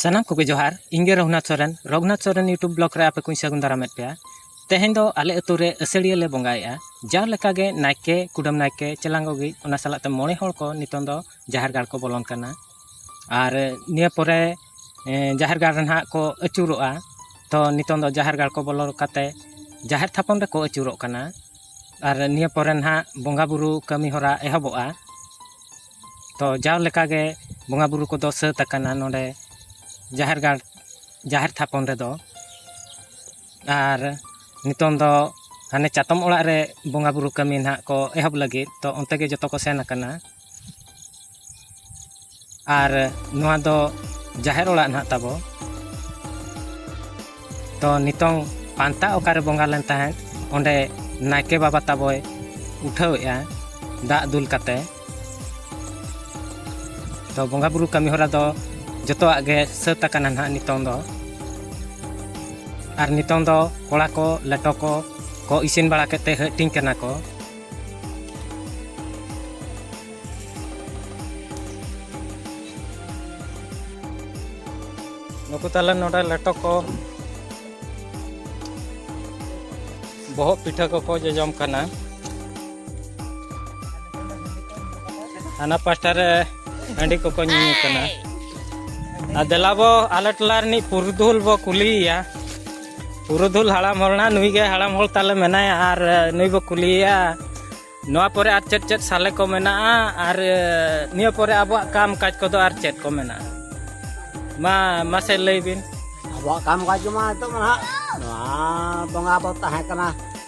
ᱥᱟᱱᱟᱢ ᱠᱚᱜᱮ ᱡᱚᱦᱟᱨ ᱤᱧ ᱜᱮ ᱨᱚᱜᱷᱩᱱᱟᱛᱷ ᱥᱚᱨᱮᱱ ᱨᱚᱜᱷᱩᱱᱟᱛᱷ ᱥᱚᱨᱮᱱ ᱤᱭᱩᱴᱩᱵᱽ ᱵᱞᱚᱜᱽ ᱨᱮ ᱟᱯᱮ ᱠᱚᱧ ᱥᱟᱹᱜᱩᱱ ᱫᱟᱨᱟᱢᱮᱫ ᱯᱮᱭᱟ ᱛᱮᱦᱮᱧ ᱫᱚ ᱟᱞᱮ ᱟᱹᱛᱩ ᱨᱮ ᱟᱹᱥᱟᱹᱲᱤᱭᱟᱹ ᱞᱮ ᱵᱚᱸᱜᱟᱭᱮᱫᱼᱟ ᱡᱟᱣ ᱞᱮᱠᱟᱜᱮ ᱱᱟᱭᱠᱮ ᱠᱩᱰᱟᱹᱢ ᱱᱟᱭᱠᱮ ᱪᱮᱞᱟᱝᱜᱚ ᱜᱮᱡ ᱚᱱᱟ ᱥᱟᱞᱟᱜ ᱛᱮ ᱢᱚᱬᱮ ᱦᱚᱲ ᱠᱚ ᱱᱤᱛᱚᱝ ᱫᱚ ᱡᱟᱦᱮᱨ ᱜᱟᱲ ᱠᱚ ᱵᱚᱞᱚᱱ ᱠᱟᱱᱟ ᱟᱨ ᱱᱤᱭᱟᱹ ᱯᱚᱨᱮ ᱡᱟᱦᱮᱨ ᱜᱟᱲ ᱨᱮ ᱱᱟᱦᱟᱜ ᱠᱚ ᱟᱹᱪᱩᱨᱚᱜᱼᱟ ᱛᱚ ᱱᱤᱛᱚᱝ ᱫᱚ ᱡᱟᱦᱮᱨ ᱜᱟᱲ ᱠᱚ ᱵᱚᱞᱚ ᱠᱟᱛᱮ ᱡᱟᱦᱮᱨ ᱛᱷᱟᱯᱚᱱ ᱨᱮᱠᱚ ᱟᱹᱪᱩᱨᱚᱜ ᱠᱟᱱᱟ ᱟᱨ ᱱᱤᱭᱟᱹ ᱯᱚᱨᱮ ᱱᱟᱦᱟᱜ ᱵᱚᱸᱜᱟ ᱵᱩᱨᱩ ᱠᱟᱹᱢᱤ ᱦᱚᱨᱟ ᱮᱦᱚᱵᱚᱜᱼᱟ ᱛᱚ ᱡᱟᱣ ᱞᱮᱠᱟᱜᱮ ᱵᱚᱸᱜᱟ ᱵᱳᱨᱳ ᱠᱚᱫᱚ ᱥᱟᱹᱛ ᱟᱠᱟᱱᱟ ᱱᱚᱰᱮ ᱡᱟᱦᱮᱨ ᱜᱟᱲ ᱡᱟᱦᱮᱨ ᱛᱷᱟᱯᱚᱱ ᱨᱮᱫᱚ ᱟᱨ ᱱᱤᱛᱚᱝ ᱫᱚ ᱦᱟᱱᱮ ᱪᱟᱛᱚᱢ ᱚᱲᱟᱜ ᱨᱮ ᱵᱚᱸᱜᱟ ᱵᱳᱨᱳ ᱠᱟᱹᱢᱤ ᱱᱟᱦᱟᱜ ᱠᱚ ᱮᱦᱚᱵ ᱞᱟᱹᱜᱤᱫ ᱛᱚ ᱚᱱᱛᱮ ᱜᱮ ᱡᱚᱛᱚ ᱠᱚ ᱥᱮᱱ ᱟᱠᱟᱱᱟ ᱟᱨ ᱱᱚᱣᱟ ᱫᱚ ᱡᱟᱦᱮᱨ ᱚᱲᱟᱜ ᱱᱟᱦᱟᱜ ᱛᱟᱵᱚ ᱛᱚ ᱱᱤᱛᱚᱝ ᱯᱟᱱᱛᱟ ᱚᱠᱟᱨᱮ ᱵᱚᱸᱜᱟ ᱞᱮᱱ ᱛᱟᱦᱮᱸᱫ ᱚᱸᱰᱮ ᱱᱟᱭᱠᱮ ᱵᱟᱵᱟ ᱛᱟᱵᱚᱭ ᱩᱴᱷᱟᱹᱣᱮᱜᱼᱟ ᱫᱟᱜ ᱫᱩᱞ ᱠᱟᱛᱮ ᱛᱚ ᱵᱚᱸᱜᱟ ᱵᱩᱨᱩ ᱠᱟᱹᱢᱤ ᱦᱚᱨᱟ ᱫᱚ ᱡᱚᱛᱚᱣᱟᱜ ᱜᱮ ᱥᱟᱹᱛ ᱟᱠᱟᱱᱟ ᱱᱟᱦᱟᱜ ᱱᱤᱛᱚᱝ ᱫᱚ ᱟᱨ ᱱᱤᱛᱚᱝ ᱫᱚ ᱠᱚᱲᱟ ᱠᱚ ᱞᱮᱴᱚ ᱠᱚ ᱠᱚ ᱤᱥᱤᱱ ᱵᱟᱲᱟ ᱠᱟᱛᱮ ᱦᱟᱹᱴᱤᱧ ᱠᱟᱱᱟ ᱠᱚ ᱱᱩᱠᱩ ᱛᱟᱦᱚᱞᱮ ᱱᱚᱰᱮ ᱞᱮᱴᱚ ᱠᱚ ᱵᱚᱦᱚᱜ ᱯᱤᱴᱷᱟᱹ ᱠᱚᱠᱚ ᱡᱚᱡᱚᱢ ᱠᱟᱱᱟ ᱦᱟᱱᱟ ᱯᱟᱥᱴᱟ ᱨᱮ ᱦᱟᱺᱰᱤ ᱠᱚᱠᱚ ᱧᱩᱧᱩ ᱠᱟᱱᱟ ᱟᱨ ᱫᱮᱞᱟ ᱵᱚ ᱟᱞᱮ ᱴᱚᱞᱟ ᱨᱤᱱᱤᱡ ᱯᱩᱨᱩᱫᱷᱩᱞ ᱵᱚ ᱠᱩᱞᱤᱭᱮᱭᱟ ᱯᱩᱨᱩᱫᱷᱩᱞ ᱦᱟᱲᱟᱢ ᱦᱚᱲᱱᱟ ᱱᱩᱭ ᱜᱮ ᱦᱟᱲᱟᱢ ᱦᱚᱲ ᱛᱟᱞᱮ ᱢᱮᱱᱟᱭᱟ ᱟᱨ ᱱᱩᱭ ᱵᱚ ᱠᱩᱞᱤᱭᱮᱭᱟ ᱱᱚᱣᱟ ᱯᱚᱨᱮ ᱟᱨ ᱪᱮᱫ ᱪᱮᱫ ᱥᱟᱞᱮ ᱠᱚ ᱢᱮᱱᱟᱜᱼᱟ ᱟᱨ ᱱᱤᱭᱟᱹ ᱯᱚᱨᱮ ᱟᱵᱚᱣᱟᱜ ᱠᱟᱢ ᱠᱟᱡᱽ ᱠᱚᱫᱚ ᱟᱨ ᱪᱮᱫ ᱠᱚ ᱢᱮᱱᱟᱜᱼᱟ ᱢᱟ ᱢᱟᱥᱮ ᱞᱟᱹᱭ ᱵᱤᱱ ᱟᱵᱚᱣᱟᱜ ᱠᱟᱢ ᱠᱟᱡᱽ ᱢᱟ ᱱᱤᱛᱚᱜ ᱢᱟ ᱱᱟᱦᱟᱜ ᱱᱚᱣᱟ ᱵᱚᱸᱜᱟ ᱵᱚ ᱛᱟᱦᱮᱸ ᱠᱟᱱᱟ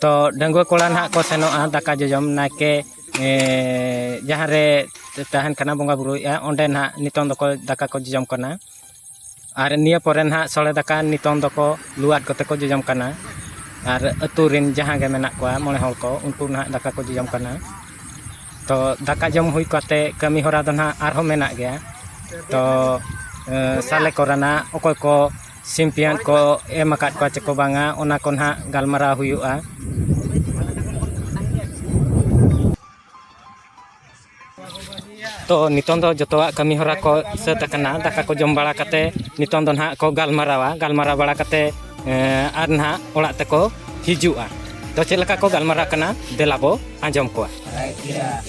ᱛᱚ ᱰᱟᱺᱜᱩᱣᱟᱹ ᱠᱚᱲᱟ ᱱᱟᱦᱟᱜ ᱠᱚ ᱥᱮᱱᱚᱜᱼᱟ ᱫᱟᱠᱟ ᱡᱚᱡᱚᱢ ᱱᱟᱭᱠᱮ ᱡᱟᱦᱟᱸ ᱨᱮ ᱛᱟᱦᱮᱱ ᱠᱟᱱᱟ ᱵᱚᱸᱜᱟ ᱵᱩᱨᱩᱭᱮᱫᱼᱟ ᱚᱸᱰᱮ ᱱᱟᱦᱟᱜ ᱱᱤᱛᱚᱝ ᱫᱚᱠᱚ ᱫᱟᱠᱟ ᱠᱚ ᱡᱚᱡᱚᱢ ᱠᱟᱱᱟ ᱟᱨ ᱱᱤᱭᱟᱹ ᱯᱚᱨᱮ ᱱᱟᱦᱟᱜ ᱥᱚᱲᱮ ᱫᱟᱠᱟ ᱱᱤᱛᱚᱝ ᱫᱚᱠᱚ ᱞᱩ ᱟᱫ ᱠᱟᱛᱮᱫ ᱠᱚ ᱡᱚᱡᱚᱢ ᱠᱟᱱᱟ ᱟᱨ ᱟᱹᱛᱩ ᱨᱮᱱ ᱡᱟᱦᱟᱸ ᱜᱮ ᱢᱮᱱᱟᱜ ᱠᱚᱣᱟ ᱢᱚᱬᱮ ᱦᱚᱲ ᱠᱚ ᱩᱱᱠᱩ ᱱᱟᱦᱟᱜ ᱫᱟᱠᱟ ᱠᱚ ᱡᱚᱡᱚᱢ ᱠᱟᱱᱟ ᱛᱚ ᱫᱟᱠᱟ ᱡᱚᱢ ᱦᱩᱭ ᱠᱟᱛᱮᱫ ᱠᱟᱹᱢᱤ ᱦᱚᱨᱟ ᱫᱚ ᱱᱟᱦᱟᱜ ᱟᱨᱦᱚᱸ ᱢᱮᱱᱟᱜ ᱜᱮᱭᱟ ᱛᱚ ᱥᱟᱞᱮ ᱠᱚᱨᱮᱱᱟᱜ ᱚᱠᱚᱭ ᱠᱚ ᱥᱤᱢ ᱯᱮᱭᱟᱸᱴ ᱠᱚ ᱮᱢ ᱟᱠᱟᱫ ᱠᱚᱣᱟ ᱪᱮᱠᱚ ᱵᱟᱝᱟ ᱚᱱᱟ ᱠᱚ ᱱᱟᱦᱟᱜ ᱜᱟᱞᱢᱟᱨᱟᱣ ᱦᱩᱭᱩᱜᱼᱟ ᱛᱚ ᱱᱤᱛᱚᱝ ᱫᱚ ᱡᱚᱛᱚᱣᱟᱜ ᱠᱟᱹᱢᱤ ᱦᱚᱨᱟ ᱠᱚ ᱥᱟᱹᱛ ᱟᱠᱟᱱᱟ ᱫᱟᱠᱟ ᱠᱚ ᱡᱚᱢ ᱵᱟᱲᱟ ᱠᱟᱛᱮ ᱱᱤᱛᱚᱝ ᱫᱚ ᱱᱟᱦᱟᱜ ᱠᱚ ᱜᱟᱞᱢᱟᱨᱟᱣᱟ ᱜᱟᱞᱢᱟᱨᱟᱣ ᱵᱟᱲᱟ ᱠᱟᱛᱮ ᱟᱨ ᱱᱟᱦᱟᱜ ᱚᱲᱟᱜ ᱛᱮᱠᱚ ᱦᱤᱡᱩᱜᱼᱟ ᱛᱚ ᱪᱮᱫ ᱞᱮᱠᱟ ᱠᱚ ᱜᱟᱞᱢᱟᱨᱟᱜ ᱠᱟᱱᱟ ᱫᱮᱞᱟ ᱵᱚ ᱟᱸᱡᱚᱢ ᱠᱚᱣᱟ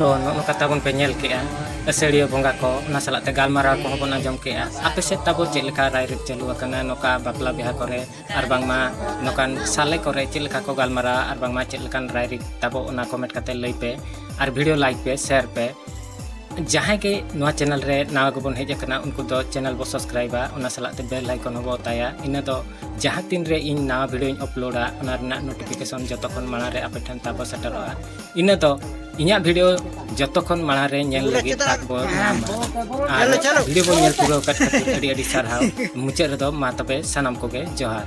ᱛᱚ ᱱᱚᱜᱼᱚ ᱠᱟᱛᱷᱟ ᱵᱚᱱ ᱯᱮ ᱧᱮᱞ ᱠᱮᱜᱼᱟ ᱟᱹᱥᱟᱹᱲᱤᱭᱟᱹ ᱵᱚᱸᱜᱟ ᱠᱚ ᱚᱱᱟ ᱥᱟᱞᱟᱜ ᱛᱮ ᱜᱟᱞᱢᱟᱨᱟᱣ ᱠᱚᱦᱚᱸ ᱵᱚᱱ ᱟᱸᱡᱚᱢ ᱠᱮᱜᱼᱟ ᱟᱯᱮ ᱥᱮᱫ ᱛᱟᱵᱚ ᱪᱮᱫ ᱞᱮᱠᱟ ᱨᱟᱭᱨᱤᱛ ᱪᱟᱹᱞᱩ ᱟᱠᱟᱱᱟ ᱱᱚᱝᱠᱟ ᱵᱟᱯᱞᱟ ᱵᱤᱦᱟᱹ ᱠᱚᱨᱮ ᱟᱨ ᱵᱟᱝᱢᱟ ᱱᱚᱝᱠᱟᱱ ᱥᱟᱞᱮ ᱠᱚᱨᱮ ᱪᱮᱫ ᱞᱮᱠᱟ ᱠᱚ ᱜᱟᱞᱢᱟᱨᱟᱣᱟ ᱟᱨ ᱵᱟᱝᱢᱟ ᱪᱮᱫ ᱞᱮᱠᱟᱱ ᱨᱟᱭᱨᱤᱛ ᱛᱟᱵᱚ ᱚᱱᱟ ᱠᱚᱢᱮᱱᱴ ᱠᱟᱛᱮ ᱞᱟᱹᱭ ᱯᱮ ᱟᱨ ᱵᱷᱤᱰᱤᱭᱳ ᱞᱟᱭᱤᱠ ᱯᱮ ᱥᱮᱭᱟᱨ ᱯᱮ ᱡᱟᱦᱟᱸᱭ ᱜᱮ ᱱᱚᱣᱟ ᱪᱮᱱᱮᱞ ᱨᱮ ᱱᱟᱣᱟ ᱜᱮᱵᱚᱱ ᱦᱮᱡ ᱟᱠᱟᱱᱟ ᱩᱱᱠᱩ ᱫᱚ ᱪᱮᱱᱮᱞ ᱵᱚ ᱥᱟᱵᱥᱠᱨᱟᱭᱤᱵᱟ ᱚᱱᱟ ᱥᱟᱞᱟᱜ ᱛᱮ ᱵᱮᱞ ᱟᱭᱠᱚᱱ ᱦᱚᱸᱵᱚ ᱚᱛᱟᱭᱟ ᱤᱱᱟᱹ ᱫᱚ ᱡᱟᱦᱟᱸ ᱛᱤᱱ ᱨᱮ ᱤᱧ ᱱᱟᱣᱟ ᱵᱷᱤᱰᱤᱭᱳᱧ ᱟᱯᱞᱳᱰᱟ ᱚᱱᱟ ᱨᱮᱱᱟᱜ ᱱᱳᱴᱤᱯᱷᱤᱠᱮᱥᱚᱱ ᱡᱚᱛᱚ ᱠᱷᱚᱱ ᱢᱟᱲᱟᱝ ᱨᱮ ᱟᱯᱮ ᱴᱷᱮᱱ ᱛᱟᱵᱚ ᱥᱮᱴᱮᱨᱚᱜᱼᱟ ᱤᱱᱟᱹ ᱫᱚ ᱤᱧᱟᱹᱜ ᱵᱷᱤᱰᱤᱭᱳ ᱡᱚᱛᱚ ᱠᱷᱚᱱ ᱢᱟᱲᱟᱝ ᱨᱮ ᱧᱮᱞ ᱞᱟᱹᱜᱤᱫ ᱛᱟᱠ ᱵᱚ ᱧᱟᱢᱟ ᱟᱨ ᱵᱷᱤᱰᱤᱭᱳ ᱵᱚ ᱧᱮᱞ ᱯᱩᱨᱟᱹᱣ ᱠᱟᱛ ᱠᱷᱟᱹᱛᱤᱨ ᱟᱹᱰᱤ ᱟᱹᱰᱤ ᱥᱟᱨᱦᱟᱣ ᱢᱩᱪᱟᱹᱫ ᱨᱮᱫᱚ ᱢᱟ ᱛᱚᱵᱮ ᱥᱟᱱᱟᱢ ᱠᱚᱜᱮ ᱡᱚᱦᱟᱨ